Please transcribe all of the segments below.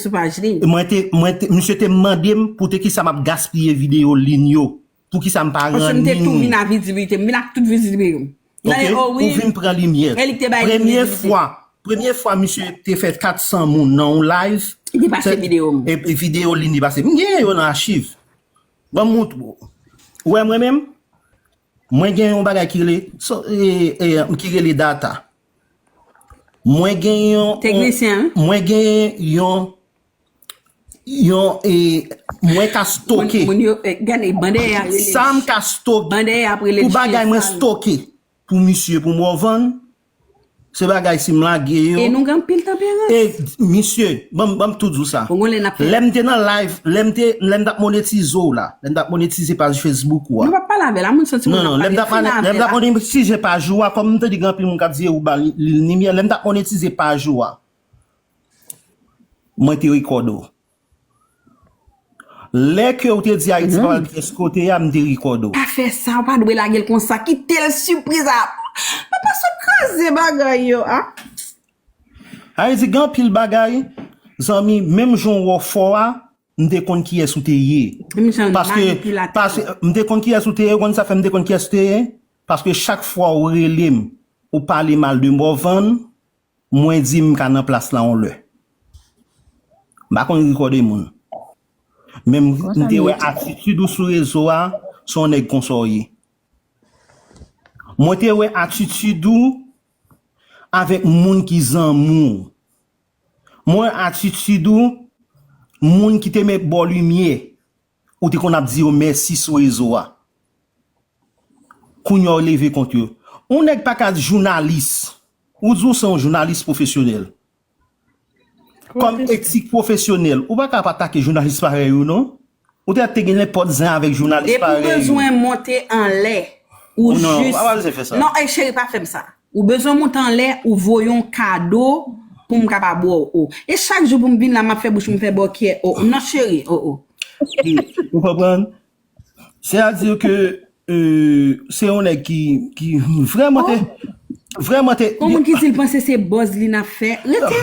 sou paj li. Mwen te, mwen te, misye te mande m pou te kisa m ap gaspiye video lin yo. Pou kisa m pa ranni. Paske m te tou vin a viziblite. M vin ak tout viziblite yo. Ok, ou vin pran limyè. E li k te bay limyè. Premye fwa, premye fwa misye te fè 400 moun nan yon live. Li te pase video m. E video lin li pase. M genyen yo nan achiv. Ban m moutre w. Ou wè mwen menm? Mwen gen yon bagay ki rele, ki rele data. Mwen gen yon Teknisyen an. Mwen gen yon yon e mwen ka stoke. Moun yo gade ban dèyè a rele. Sa m ka stoke. Ban dèyè a rele. Pou bagay mwen stoke pou misye pou m revann se bagay si m lage yo. E nou gen anpil tanperans. E misye banm banm tout di w sa. Bon lè n ap fè. Lè m te nan live lè m te lè m t ap monetize w la. Lèm tap monetize paj Facebook ou a. Nou pa pale avèl a moun santi moun ap pale fina avèl a. Lèm tap monetize paj ou a kòm m te di gen anpil moun kap di eou ba li nimyè lèm tap monetize paj ou a mwen te record ou lè ke ou te di ayiti pa pral pi fòs kote a m te record ou. Pa fè sa ou pa dwe lagel konsa kitel sipriz a nan pa sot kraze bagay yo a. Haiti gen anpil bagay zanmi menm jan ou wè w fò a. M te konn kiyès ou te ye. M te konn kiyès ou te ye, ou konn sa fè m te konn kiyès ou te ye? Paske chak fwa ou rele m, ou pale mal de Morvan, mwen di m ka nan plas la yon lè. M pa konn ri kòde moun. Men m te wè atitid ou sou rezo a, se yon nèg konsa w ye. Mwen te wè atitid ou avèk moun ki zanmi w. M wè atitid ou moun ki te met bo limye ou te konn ap di yo mèsi sou rezo a. Kounya w leve kont yo. Yon nèg pa ka jounalis. Ou di w se yon jounalis pwofesyonèl. Kòm etik pwofesyonèl, ou pa ka ap atake jounalis parèy ou non. Ou te te gen nenpòt zen avèk jounalis parèy ou. Depi w bezwen monte anlè ou jis. Ou pa bezwen fè sa. Non ey cheri pa fè m sa. Ou bezwen monte anlè ou voye yon kado pou m kaba bò w oh. E chak jou pou m vin la m ap fè bouch m fè bò kyè oh non cheri oh oh. Ou konprann? Se a di ke se yon nèg ki vrèman te. Vrèman te. Yon moun ki di l panse se buzz li n ap fè. Rete.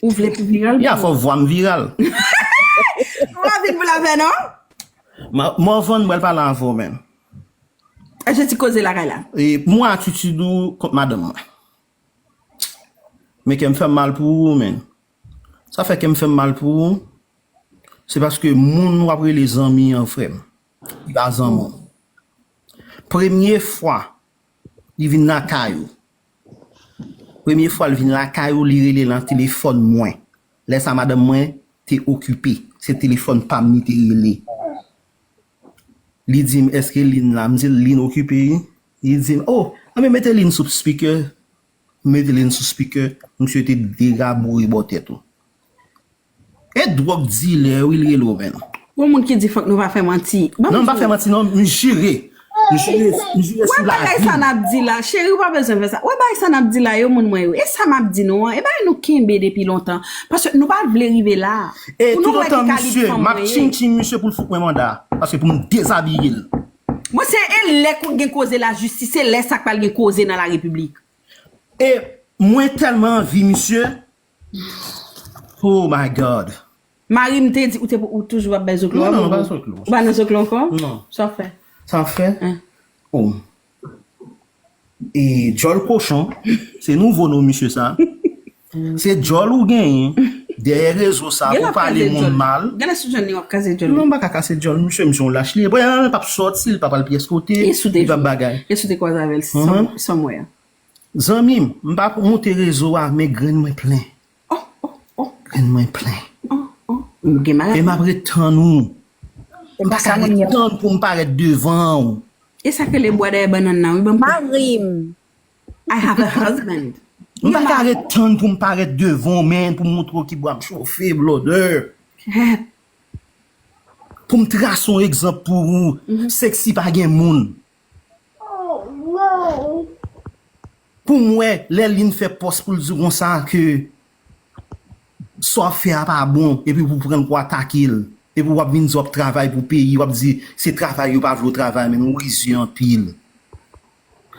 Ou vle pou viral pou. Ya fòk vwam viral. Ou pa vin pou lapè non. Morvan m pral pale avè w men. Achte ti koze lakay la. Mwen atitid ou kont madanm mwen. Men kèm fèm mal pou ou men. Sa fè kèm fèm mal pou ou. Se paske moun wap rele zanmi an frèm. Li pa zanmi w. Premye fwa li vin lakay ou. Premye fwa l vin lakay ou li rele lan telefòn mwen. Lè sa madanm mwen te okipe. Se telefòn pa m li te rele. Li di m èske Lynn la? M di l Lynn okipe wi. Li di m o! Anben mete Lynn sou spikè. M mete Lynn sou spikè. Msye te degaboure bò tèt ou. E drog dilè wi li rele w menm. Gon moun ki di fok nou pa fè manti. Non m pa fè manti non m jire. M jire sou la vi m. Cheri ou pa bezwen fè sa. Wè bagay sa nap di la yo moun mwen yo. E sa map di nou an e bagay nou kenbe depi lontan. Paske nou pat vle rive la. E tout otan misye map tching tching misye pou l fout mwen manda. Paske pou m dezabiye l. Bon se e lè konn gen koze la jistis se lè sa k pral gen koze nan la repiblik. E mwen telman anvi misye. Hoo my God. Mari m te di ou te ou toujou ap bay zoklo a bobo. Mwen pa zoklo. Ou pa nan zoklo ankò? Non. Sa w fè? Sa m fè? An. Oh. E djòl kochon, se nouvo non misye sa. Se djòl ou genyen dèyè rezo sa pou pale moun mal. Gen lè sou jèn li wap kase djòl li. Non m pa ka kase djòl misye, misye yon lach li e. Pwè an l pap sòti, l pap al pyès kote, li pap bagay. E sou te kwaze avè l san mwen an. Zanmim m pa pou moute rezo a men grenn mwen plen oh oh oh grenn mwen plen oh oh m gen maladi e map ret tann ou m pa ka ret tann poum parèt devanw. E sak rele bwa dèyè bannann nan wi banm kout. Marim. I have a husband. M pa ka ret tann poum parèt devanw men poum moutre w ki bwa m chofe blòdè. Hep. Poum trase yon egzanp pou ou sexy pa gen moun. Poum wè lè Lynn fè pòs poul diw konsa ke sa wap fè a pa bon epi pou pranl pou atakel epi wap vin di wap travay pou peyi wap di se travay yo pa vle w travay menm ou rizye anpil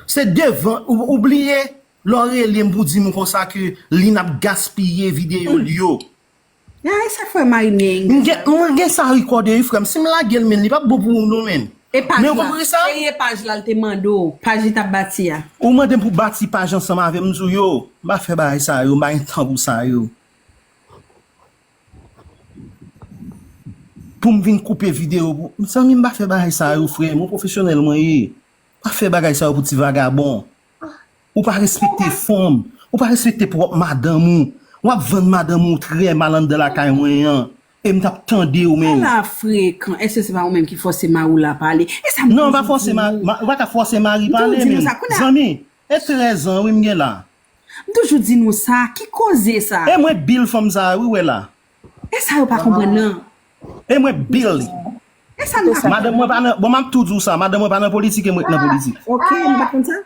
se devan ou bliye lè w relem pou dim konsa ke Lynn ap gaspiye videyo l yo. Nan e sa frè mari Neheng te fè. Mwen gen sa record wi frèm sim lagel menn li pap bon pou ou non menn. E paj la, e e paj la l te mande w, paj li tap bati a. Ou mandem pou bati paj ansanm avèm m diw yo, m pa fè bagay sa yo, m pa gen tan pou sa yo. Poum vin koupe video pou, mezanmi m pa fè bagay sa yo frèm, ou pwofesyonèl mwen ye. M pa fè bagay sa yo pou ti vagabon. Ou pa respekte fanm, ou pa respekte pwòp madanm ou, wap vann madanm ou trè mal anndan lakay mwen an, em tap tandew men. Ala frekan, eske se pa ou menm ki fòse mariw la pale, e sa m toujou di nou. Non, ou pa ka fòse mari pale men, zanmi, e 13 ans wi m gen la. M toujou di nou sa, ki koze sa. E mwen bil fanm sa wi ou wè la. E sa yo pa konprann nan. E mwen bil li. E sa nou pa konprann nan. Bon map tou diw sa, madanm mwen pa nan politik e mwen ki nan politik. Ok, m pat konn sa.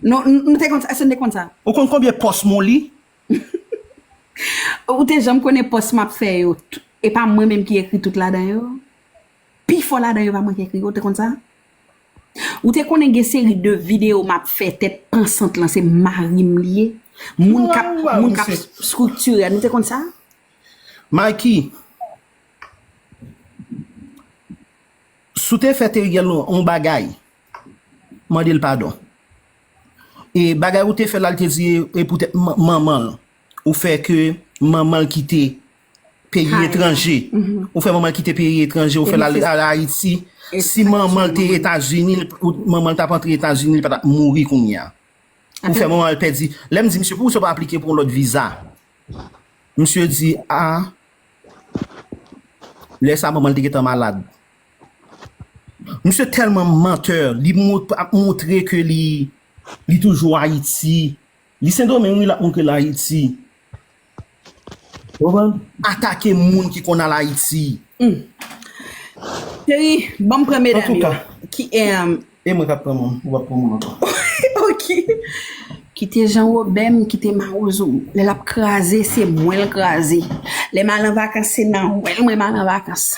Non, m te konn sa. Èske n te konn sa? Ou konn konbyen pòs mou li? Ou te janm konnen pòs m ap fè yo, e pa mwen menm ki ekri tout ladan yo? Pi fò ladan yo pa mwen ki ekri yo, ou te konn sa? Ou te konnen gen seri de videyo m ap fè tèt pansant lan se mari m li ye? Moun k ap, moun k ap striktire l, ou te konn sa? Mikey, si w te fè Theriel yon bagay, Mande l padon. E bagay ou te fè la l te di e poutèt manman l. Ou fè ke manman l kite peyi etranje. Ou fè manman l kite peyi etranje. Ou fè l al Ayiti. Si manman l te Etazini, manman l t ap antre Etazini, li pa t ap mouri kounye a. Ou fè manman l pèdi. Lè m di misye, poukisa ou pa aplike pou yon lòt viza? Misye di a, lè sa manman l te gentan malad. Misye telman menteur li ap moutre ke li li toujou ayiti li sendomeng wi lap moutre l ayiti atake moun ki konn al ayiti humm cheri banm pran medam yo ki emm e mwen kap pran moun ou pap pran moun ankò ok kite jan robè m kite mawozo m lè lap kraze se mwen l kraze lèm al an vakans se nan wèl mwen m al an vakans.